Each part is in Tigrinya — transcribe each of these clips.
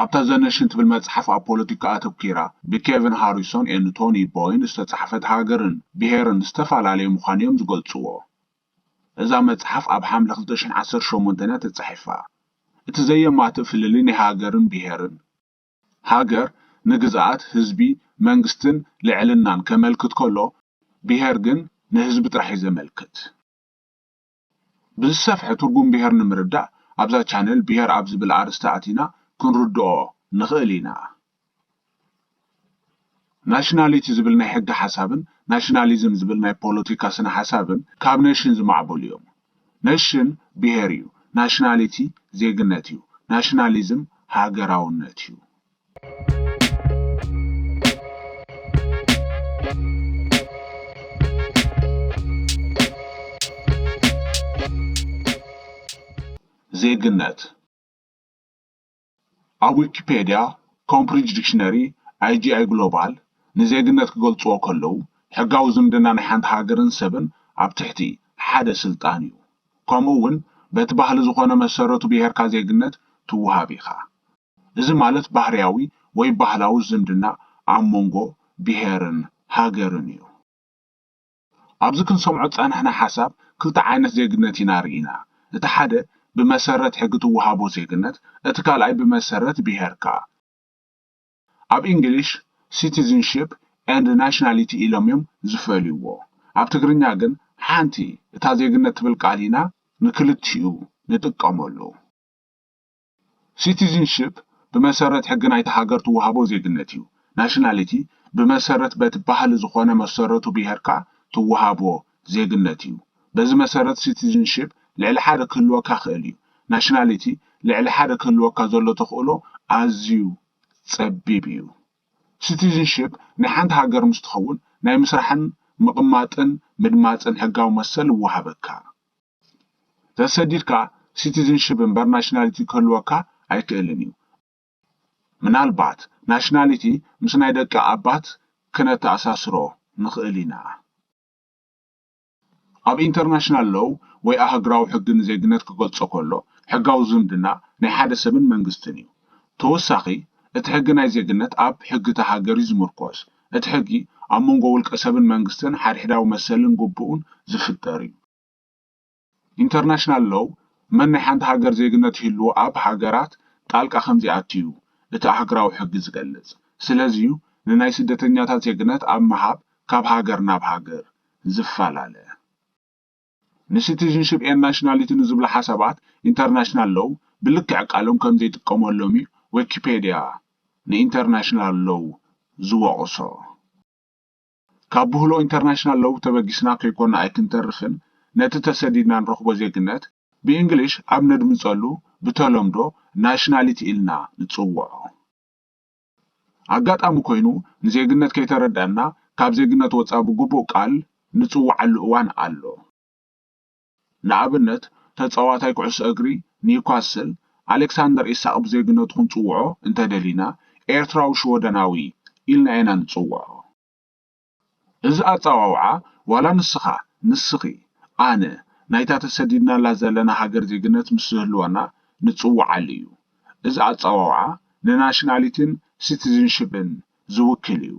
ኣብታ ዘ ነሽን ትብል መጽሓፍ ኣብ ፖለቲካ ኣተኲራ ብኬቪን ሃሪሶን ኤን ቶኒ ቦይን ዝተጻሕፈት ሃገርን ብሄርን ዝተፈላለየ ምዃኑ እዮም ዝገልጽዎ። እዛ መጽሓፍ ኣብ ሓምለ ክልተ ሽሕን ዓሰርተ ሸሞንተን እያ ተጻሒፋ። እቲ ዘየማትእ ፍልልይ ናይ ሃገርን ብሄርን፣ ሃገር ንግዝኣት፣ ህዝቢ፣ መንግስትን ልዕልናን ከመልክት ከሎ ብሄር ግን ንህዝቢ ጥራሕ እዩ ዘመልክት። ብዝሰፍሐ ትርጉም ብሄር ንምርዳእ ኣብዛ ቻነል ብሄር ኣብ ዝብል ኣርእስቲ ኣቲና ክንርድኦ ንኽእል ኢና። ናሽናሊቲ ዝብል ናይ ሕገ ሓሳብን ናሽናሊዝም ዝብል ናይ ፖለቲካ ስነ ሓሳብን ካብ ነሽን ዝማዕበሉ እዮም። ነሽን ብሄር እዩ፣ ናሽናሊቲ ዜግነት እዩ፣ ናሽናሊዝም ሃገራውነት እዩ። ዜግነት ኣብ ዊኪፔድያ ኮምብሪጅ ዲክሽነሪ ኣይጂኣይ ግሎባል ንዜግነት ክገልጽዎ ከለዉ ሕጋዊ ዝምድና ናይ ሓንቲ ሃገርን ሰብን ኣብ ትሕቲ ሓደ ስልጣን እዩ። ከምኡ እውን በቲ ባህሊ ዝኾነ መሰረቱ ብሄርካ ዜግነት ትውሃብ ኢኻ። እዚ ማለት ባህርያዊ ወይ ባህላዊ ዝምድና ኣብ መንጎ ብሄርን ሃገርን እዩ። ኣብዚ ክንሰምዖ ዝጸናሕና ሓሳብ ክልተ ዓይነት ዜግነት ኢና ርኢና፣ እቲ ሓደ ብመሰረት ሕጊ ትወሃቦ ዜግነት፣ እቲ ካልኣይ ብመሰረት ብሄርካ። ኣብ ኢንግሊሽ ሲቲዝንሺፕ ኤንድ ናሽናሊቲ ኢሎም እዮም ዝፈልይዎ። ኣብ ትግርኛ ግን ሓንቲ እታ ዜግነት ትብል ቃል ኢና ንክልቲኡ ንጥቀመሉ። ሲቲዝንሺፕ ብመሰረት ሕጊ ናይታ ሃገር ትወሃቦ ዜግነት እዩ። ናሽናሊቲ ብመሰረት በቲ ባህሊ ዝኾነ መሰረቱ ብሄርካ ትወሃቦ ዜግነት እዩ። በዚ መሰረት ሲቲዝንሺፕ ልዕሊ ሓደ ክህልወካ ክእል እዩ። ናሽናሊቲ ልዕሊ ሓደ ክህልወካ ዘሎ ተኽእሎ ኣዝዩ ጸቢብ እዩ። ሲቲዝንሺፕ ናይ ሓንቲ ሃገር ምስ ትኸውን ናይ ምስራሕን ምቕማጥን ምድማጽን ሕጋዊ መሰል ይወሃበካ። ተሰዲድካ ሲቲዝንሺፕ እምበር ናሽናሊቲ ክህልወካ ኣይክእልን እዩ። ምናልባት ናሽናሊቲ ምስ ናይ ደቂ ኣባት ክነተኣሳስሮ ንኽእል ኢና። ኣብ ኢንተርናሽናል ሎው ወይ ኣህግራዊ ሕጊ ንዜግነት ክገልጾ ከሎ ሕጋዊ ዝምድና ናይ ሓደ ሰብን መንግስትን እዩ። ተወሳኺ እቲ ሕጊ ናይ ዜግነት ኣብ ሕጊ እታ ሃገር እዩ ዝምርኮስ። እቲ ሕጊ ኣብ መንጎ ውልቀ ሰብን መንግስትን ሓድሕዳዊ መሰልን ግቡእን ዝፍጠር እዩ። ኢንተርናሽናል ሎው መን ናይ ሓንቲ ሃገር ዜግነት ይህልዎ ኣብ ሃገራት ጣልቃ ከምዘይኣቱ'ዩ እቲ ኣህግራዊ ሕጊ ዝገልጽ። ስለዚ'ዩ ንናይ ስደተኛታት ዜግነት ኣብ ምሃብ ካብ ሃገር ናብ ሃገር ዝፈላለ። ንሲቲዝንሺፕ ኤን ናሽናሊቲ ንዝብሉ ሓሳባት ኢንተርናሽናል ሎው ብልክዕ ቃሎም ከምዘይጥቀመሎም'ዩ ዌኪፔድያ ንኢንተርናሽናል ሎው ዝወቕሶ። ካብ ብህሎ ኢንተርናሽናል ሎው ተበጊስና ከይኮና ኣይክንተርፍን ነቲ ተሰዲድና ንረኽቦ ዜግነት ብእንግሊሽ ኣብ ነድምጸሉ ብተለምዶ ናሽናሊቲ ኢልና ንጽውዖ ኣጋጣሚ ኮይኑ ንዜግነት ከይተረዳእና ካብ ዜግነት ወጻ ብግቡእ ቃል ንጽውዓሉ እዋን ኣሎ። ንኣብነት ተጻዋታይ ኩዕሶ እግሪ ኒውካስል ኣሌክሳንደር ኢሳቕ ብዜግነቱ ክንጽውዖ እንተ ደሊና ኤርትራዊ ሽወደናዊ ኢልና ኢና ንጽውዖ። እዚ ኣጸዋውዓ ዋላ ንስኻ፣ ንስኺ፣ ኣነ ናይታ ተሰዲድናላ ዘለና ሃገር ዜግነት ምስ ዝህልወና ንጽውዓሉ እዩ። እዚ ኣጸዋውዓ ንናሽናሊቲን ሲቲዝንሽፕን ዝውክል እዩ።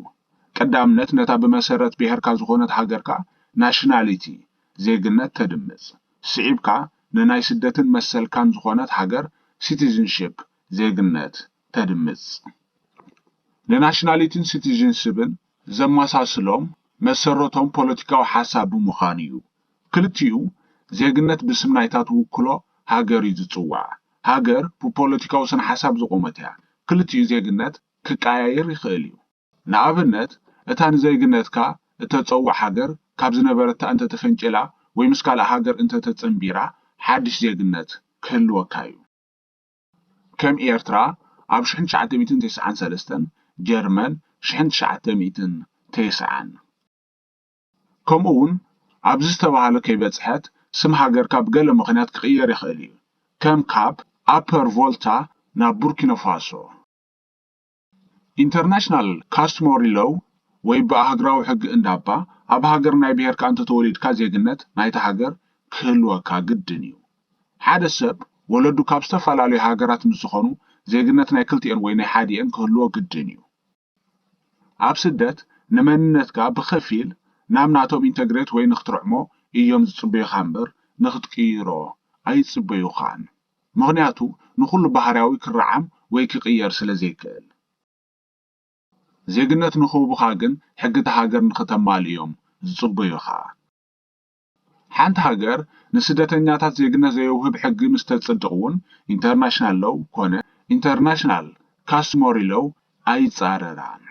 ቀዳምነት ነታ ብመሰረት ብሄርካ ዝኾነት ሃገርካ፣ Nationality፣ ዜግነት፣ ተድምጽ። ስዒብካ ንናይ ስደትን መሰልካን ዝኾነት ሃገር፣ Citizenship፣ ዜግነት፣ ተድምጽ። ንናሽናሊቲን ሲቲዝንስብን ዘመሳስሎም መሰረቶም ፖለቲካዊ ሓሳብ ብምዃኑ እዩ። ክልቲኡ ዜግነት ብስም ናይታ ትውክሎ ሃገር እዩ ዝጽዋዕ። ሃገር ብፖለቲካዊ ስነሓሳብ ዝቖመት እያ። ክልቲኡ ዜግነት ክቀያየር ይኽእል እዩ። ንኣብነት፣ እታ ንዜግነትካ እተጸውዕ ሃገር ካብ ዝነበረታ እንተ ተፈንጪላ ወይ ምስ ካልእ ሃገር እንተ ተጸንቢራ፣ ሓድሽ ዜግነት ክህልወካ እዩ። ከም ኤርትራ፣ ኣብ ሽሕን ትሽዓተ ሚእትን ተስዓን ሰለስተን፣ ጀርመን፣ ሽሕን ትሽዓተ ሚእትን ተስዓን፣ ከምኡውን ኣብዚ ዝተባህለ ከይበጽሐት፣ ስም ሃገርካ ብገለ ምኽንያት ክቕየር ይኽእል እዩ፣ ከም ካብ ኣፐር ቮልታ ናብ ቡርኪኖፋሶ። ኢንተርናሽናል ካስትሞሪ ሎው ወይ ብኣህግራዊ ሕጊ እንዳባ ኣብ ሃገር ናይ ብሄርካ እንተተወሊድካ ዜግነት ናይታ ሃገር ክህልወካ ግድን እዩ። ሓደ ሰብ ወለዱ ካብ ዝተፈላለዩ ሃገራት ምስ ዝኾኑ ዜግነት ናይ ክልቲኤን ወይ ናይ ሓዲኤን ክህልዎ ግድን እዩ። ኣብ ስደት ንመንነትካ ብኸፊል ናብ ናቶም ኢንተግሬት ወይ ንክትርዕሞ እዮም ዝጽበዩኻ እምበር ንክትቅይሮ ኣይጽበዩኻን። ምኽንያቱ ንኹሉ ባህርያዊ ክረዓም ወይ ክቕየር ስለዘይክእል። ዜግነት ንኽህቡኻ ግን ሕጊ እታ ሃገር ንኽተማልእ እዮም ዝጽበዩኻ። ሓንቲ ሃገር ንስደተኛታት ዜግነት ዘየውህብ ሕጊ ምስ ተጽድቕ'ውን ኢንተርናሽናል ሎው ኮነ ኢንተርናሽናል ካስትሞሪ ሎው ኣይጻረራን።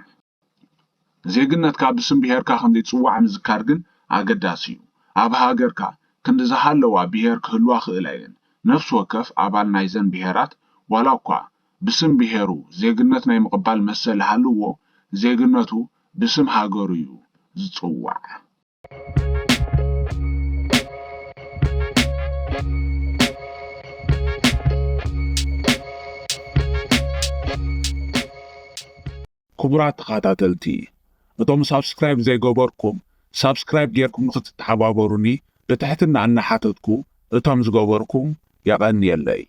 ዜግነትካ ብስም ብሄርካ ከም ዘይትጽዋዕ ምዝካር ግን ኣገዳሲ እዩ። ኣብ ሃገርካ ክንዲ ዝሃለዋ ብሄር ክህልዋ ክእላ እየን። ነፍሲ ወከፍ ኣባል ናይዘን ብሄራት ዋላ እኳ ብስም ብሄሩ ዜግነት ናይ ምቕባል መሰል ሃልዎ ዜግነቱ ብስም ሃገሩ እዩ ዝጽዋዕ። ክቡራት ተኸታተልቲ እቶም ሳብስክራይብ ዘይገበርኩም ሳብስክራይብ ጌርኩም ንኽትተሓባበሩኒ ብትሕትና እናሓተትኩ እቶም ዝገበርኩም የቐንየለይ።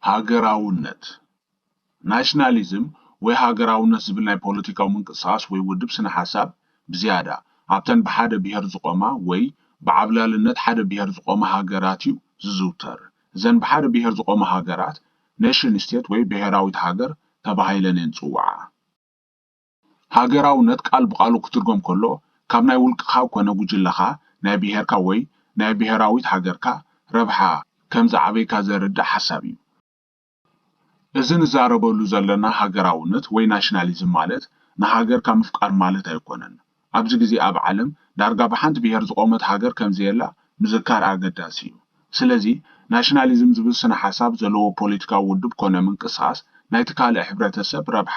ሃገራውነት ናሽናሊዝም ወይ ሃገራውነት ዝብል ናይ ፖለቲካዊ ምንቅስቓስ ወይ ውድብ ስነ ሓሳብ ብዝያዳ ኣብተን ብሓደ ብሄር ዝቖማ ወይ ብዓብላልነት ሓደ ብሄር ዝቖማ ሃገራት እዩ ዝዝውተር። እዘን ብሓደ ብሄር ዝቖማ ሃገራት Nation State ወይ ብሄራዊት ሃገር ተባሂለን እየን ዝጽውዓ። ሃገራውነት ቃል ብቓሉ ክትርጎም ከሎ ካብ ናይ ውልቅኻ ኮነ ጉጅለኻ፣ ናይ ብሄርካ ወይ ናይ ብሄራዊት ሃገርካ ረብሓ ከም ዝዓበይካ ዘርድእ ሓሳብ እዩ። እዚ ንዛረበሉ ዘለና ሃገራውነት ወይ ናሽናሊዝም ማለት ንሃገርካ ምፍቃር ማለት ኣይኮነን። ኣብዚ ግዜ ኣብ ዓለም ዳርጋ ብሓንቲ ብሄር ዝቖመት ሃገር ከምዘየላ ምዝካር ኣገዳሲ እዩ። ስለዚ ናሽናሊዝም ዝብል ስነ ሓሳብ ዘለዎ ፖለቲካዊ ውድብ ኮነ ምንቅስቓስ ናይቲ ካልእ ሕብረተ ሰብ ረብሓ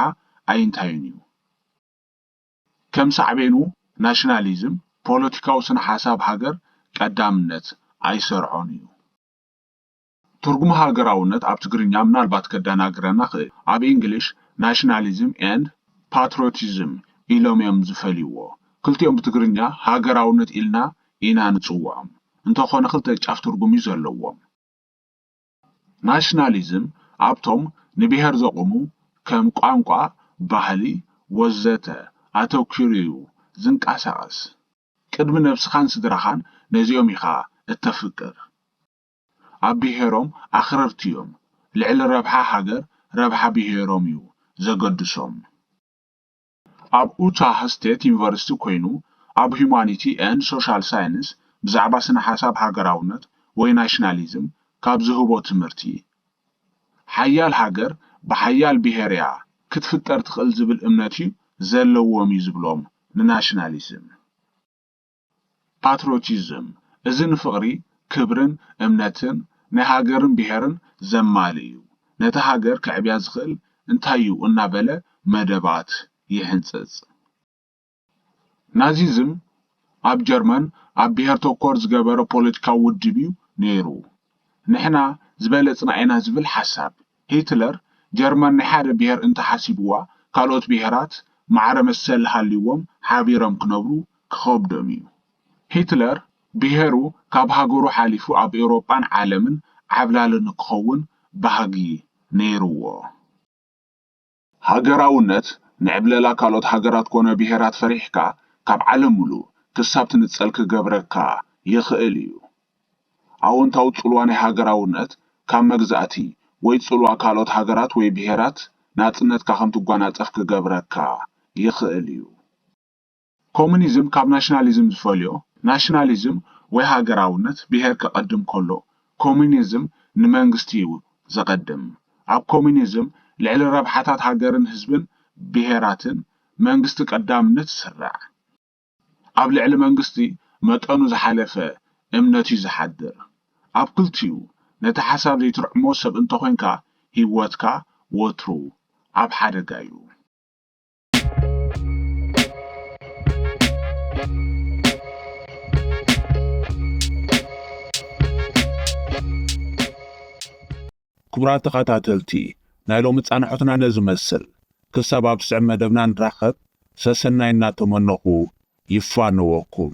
ኣይንታዩን እዩ። ከም ሳዕቤኑ ናሽናሊዝም ፖለቲካዊ ስነ ሓሳብ ሃገር ቀዳምነት ኣይሰርዖን እዩ። ትርጉም ሃገራውነት ኣብ ትግርኛ ምናልባት ከደናግረና ክእል ኣብ ኢንግሊሽ ናሽናሊዝም ኤንድ ፓትሮቲዝም ኢሎም እዮም ዝፈልይዎ ክልቲኦም ብትግርኛ ሃገራውነት ኢልና ኢና ንጽውዖም እንተኮነ ክልተ ጫፍ ትርጉም እዩ ዘለዎም ናሽናሊዝም ኣብቶም ንብሄር ዘቁሙ ከም ቋንቋ ባህሊ ወዘተ ኣተኪሩ እዩ ዝንቃሳቀስ ቅድሚ ነብስካን ስድራካን ነዚኦም ኢካ እተፍቅር። ኣብ ብሄሮም ኣኽረርቲ ዮም ልዕሊ ረብሓ ሃገር ረብሓ ብሄሮም ዩ ዘገድሶም። ኣብ ኡታህ ስቴት ዩኒቨርሲቲ ኮይኑ ኣብ ሁማኒቲ ኤንድ ሶሻል ሳይንስ ብዛዕባ ስነ ሓሳብ ሃገራውነት ወይ ናሽናሊዝም ካብ ዝህቦ ትምህርቲ ሓያል ሃገር ብሓያል ብሄር ያ ክትፍጠር ትኽእል ዝብል እምነት ዩ ዘለዎም ዩ ዝብሎም ንናሽናሊዝም ፓትሮቲዝም፣ እዚ ንፍቕሪ፣ ክብርን እምነትን ናይ ሃገርን ብሄርን ዘማልእ ዩ። ነታ ሃገር ከዕብያ ዝኽእል እንታይ ዩ እናበለ መደባት ይሕንፅፅ። ናዚዝም ኣብ ጀርመን ኣብ ብሄር ተኮር ዝገበረ ፖለቲካዊ ውድብ ዩ ነይሩ። ንሕና ዝበለጽና ኢና ዝብል ሓሳብ። ሂትለር ጀርመን ናይ ሓደ ብሄር እንተሓሲብዋ ካልኦት ብሄራት ማዕረ መሰል ሃልይዎም ሓቢሮም ክነብሩ ክኸብዶም እዩ። ሂትለር ብሄሩ ካብ ሃገሩ ሓሊፉ ኣብ ኤውሮጳን ዓለምን ዓብላሊ ንክኸውን ባህጊ ነይርዎ። ሃገራውነት ንዕብለላ ካልኦት ሃገራት ኮነ ብሄራት ፈሪሕካ ካብ ዓለም ምሉእ ክሳብ ትንጸል ክገብረካ ይኽእል እዩ። ኣወንታዊ ጽልዋ ናይ ሃገራውነት ካብ መግዛእቲ ወይ ጽልዋ ካልኦት ሃገራት ወይ ብሄራት ናጽነትካ ከም ትጓናጸፍ ክገብረካ ይኽእል እዩ። ኮሙኒዝም ካብ ናሽናሊዝም ዝፈልዮ፣ ናሽናሊዝም ወይ ሃገራውነት ብሄር ከቐድም ከሎ፣ ኮሙኒዝም ንመንግስቲ'ዩ ዘቐድም። ኣብ ኮሙኒዝም ልዕሊ ረብሓታት ሃገርን ህዝብን ብሄራትን መንግስቲ ቀዳምነት ይስራዕ። ኣብ ልዕሊ መንግስቲ መጠኑ ዝሓለፈ እምነት'ዩ ዝሓድር። ኣብ ክልቲኡ ነቲ ሓሳብ ዘይትርዕሞ ሰብ እንተኾይንካ ሂወትካ ወትሩ ኣብ ሓደጋ'ዩ። ክቡራት ተኸታተልቲ ናይ ሎሚ ፃንሖትና ነዚ መስል ክሳብ ኣብ ስዕብ መደብና ንራኸብ ሰሰናይ እናተመነኹ ይፋነወኩም።